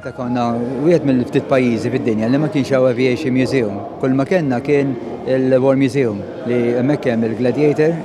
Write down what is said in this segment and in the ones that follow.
Malta konna wieħed mill-ftit pajjiżi fid-dinja li ma kienx hawn aviation museum. Kull ma kellna kien il-War Museum li hemmhekk hemm il-Gladiator,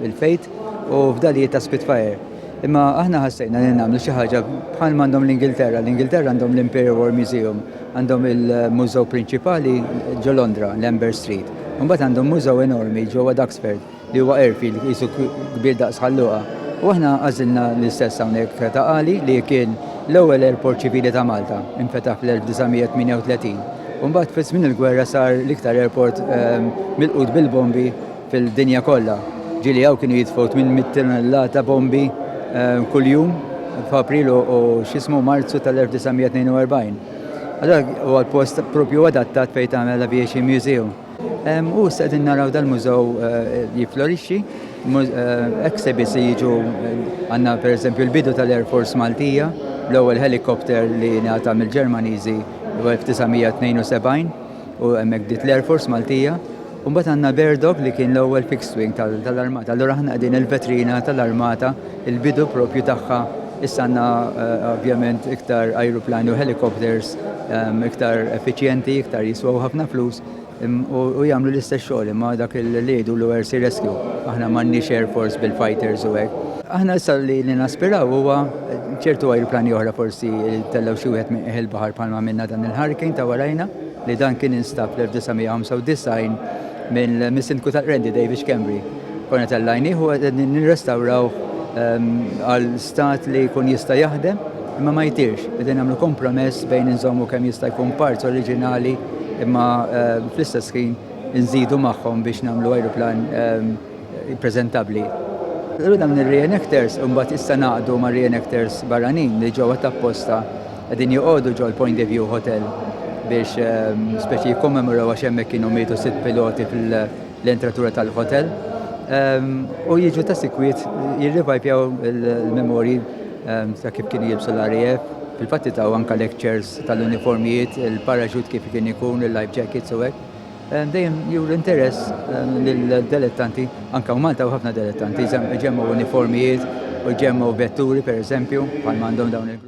il-Fate u fdalijiet ta' Spitfire. Imma aħna ħassejna li nagħmlu xi ħaġa bħal m'għandhom l-Ingilterra. L-Ingilterra għandhom l-Imperial War Museum, għandhom il-mużew prinċipali ġo Londra, l-Amber Street. Imbagħad għandhom mużew enormi ġewwa Duxford. li huwa airfield qisu kbir daqs Ħal Luqa, u aħna għażilna l-istess hawnhekk ta' Qali li kien l-ewwel airport ċivili ta' Malta, infetaħ fl-1938 u mbagħad fi żmien il-gwerra sar l-iktar airport milqut bil-bombi fil-dinja kollha, ġieli hawn kienu jitfgħu 800 tunnellata bombi kuljum f'April u x'ismu Marzu tal-1942. Allura huwa l-post proprju adattat fejn tagħmel aviation museum. U issa qegħdin naraw dal-mużew jiflorixxi, exhibits li jiġu għandna pereżempju l-bidu tal-Air Force Maltija, l-ewwel helicopter li ngħata mill-Ġermaniżi 1972 u hemmhekk bdiet l-Air Force Maltija. U mbagħad għandna Bear Dog li kien l-ewwel fixed wing tal-armata. Allura aħna qegħdin il-vetrina tal-armata, il-bidu propju tagħha Issa għandna ovvjament iktar ajruplani u helicopters iktar effiċjenti, iktar jiswew ħafna flus u jagħmlu l-istess xogħol imma dak li jgħidu l air sea rescue. Aħna m'għandniex air force bil-fighters u hekk. Aħna issa li naspiraw huwa ċertu ajruplani oħra forsi jtellgħu xi wieħed minn qiegħ il-baħar bħalma għamilna dan il-hurricane ta' warajna li dan kien instab fl-1995 mill-mis-Sindku tal-Qrendi David Schembri. Konna tellajnieh u qegħdin nirrestawrawh għal stat li jkun jista' jaħdem, imma ma jidhirx. Qegħdin nagħmlu kompromess bejn inżommu kemm jista' jkun parts oriġinali imma fl-istess ħin inżidu magħhom biex nagħmlu ajruplan preżentabbli. Allura dawn ir-reenactors imbagħad issa ngħaqdu ma' reenactors barranin li ġew għad apposta qegħdin joqogħdu ġol-Point de View Hotel biex speċi jikkommemoraw għax hemmhekk kienu mietu sitt piloti fil l-entratura tal-hotel u jiġu ta' sikwiet jirrivajpjaw il-memori ta' kif kien jilbsu l-RAF fil-fatti ta' anka lectures tal-uniformijiet, il-parachute kif kien ikun, il-life jackets u hekk. Dejjem jur interess lill-delettanti, anka u Malta u ħafna delettanti, ġemmu uniformijiet u ġemmu vetturi per eżempju, bħal għandhom dawn il-grupp.